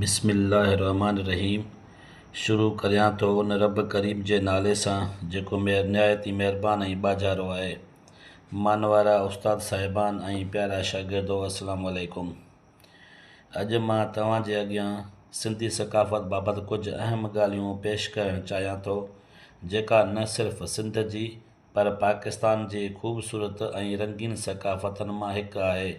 بسم الله الرحمٰن الرحيم شروع ڪريان ٿو ان رب ڪريم جي نالي سان جيڪو مهر نهايت ئي مهربان ۽ ٻاجهارو آهي. مان وارا استاد صاحبان ۽ پيارا شاگردو السلام عليڪم. اڄ مان توهان جي اڳيان سنڌي ثقافت بابت ڪجهه اهم ڳالهيون پيش ڪرڻ چاهيان ٿو جيڪا نه صرف سنڌ جي پر پاڪستان جي خوبصورت ۽ رنگين ثقافتن مان هڪ آهي.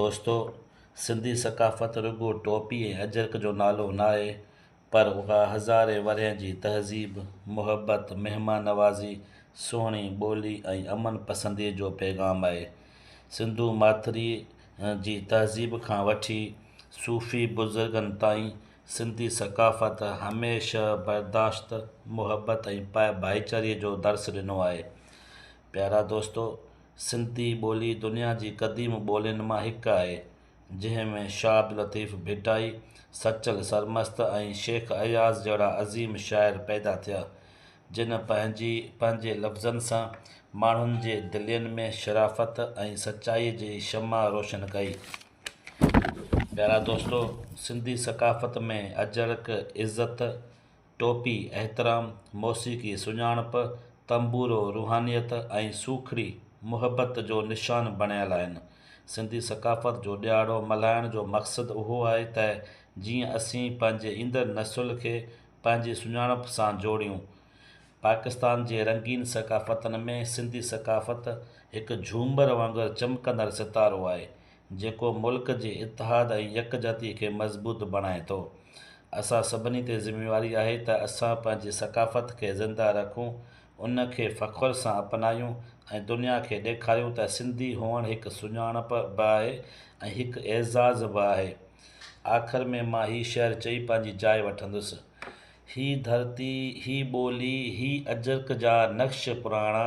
دوستو! سنڌي ثقافت رڳو ٽوپي ۽ اجرڪ جو نالو ناهي پر اها هزارين ورهين جي تهذيب، محبت، مهمان نوازي، سهڻي ٻولي ۽ امن پسنديء جو پيغام آهي. سنڌو ماٿريء جي تهذيب کان وٺي صوفي بزرگن تائين سنڌي ثقافت هميشه برداشت، محبت ۽ پاء ڀائيچاري جو درس ڏنو آهي. پيارا دوستو، سنڌي ٻولي دنيا جي قديم ٻولين مان هڪ آهي، جنهن ۾ شاهه عبداللطيف ڀٽائي، سچل سرمست ۽ شيخ اياز جهڙا عظيم شاعر پيدا ٿيا، جن پنهنجي پنهنجي لفظن سان ماڻهن جي دلين ۾ شرافت ۽ سچائي جي شمع روشن ڪئي. پيارا دوستو، سنڌي ثقافت ۾ اجرڪ، عزت، ٽوپي احترام، موسيقي سڃاڻپ، تنبورو روحانيت ۽ سوکڙي محبت جو نشان بڻيل آهن. سنڌي ثقافت جو ڏيهاڙو ملهائڻ جو مقصد اهو آهي ته جيئن اسين پنهنجي ايندڙ نسل کي پنهنجي سڃاڻپ سان جوڙيون. پاڪستان جي رنگين ثقافتن ۾ سنڌي ثقافت هڪ جهومر وانگر چمڪندڙ ستارو آهي، جيڪو ملڪ جي اتحاد ۽ يڪجهتي کي مضبوط بڻائي ٿو. اسان سڀني تي ذميواري آهي ته اسان پنهنجي ثقافت کي زنده رکون، ان کي فخر سان اپنايون ۽ دنيا کي ڏيکاريون ته سنڌي هئڻ هڪ سڃاڻپ به آهي ۽ هڪ اعزاز به آهي. آخر ۾ مان هي شعر چئي پنهنجي جاء وٺندس. هي ڌرتي، هي ٻولي، هي اجرڪ جا نقش پراڻا،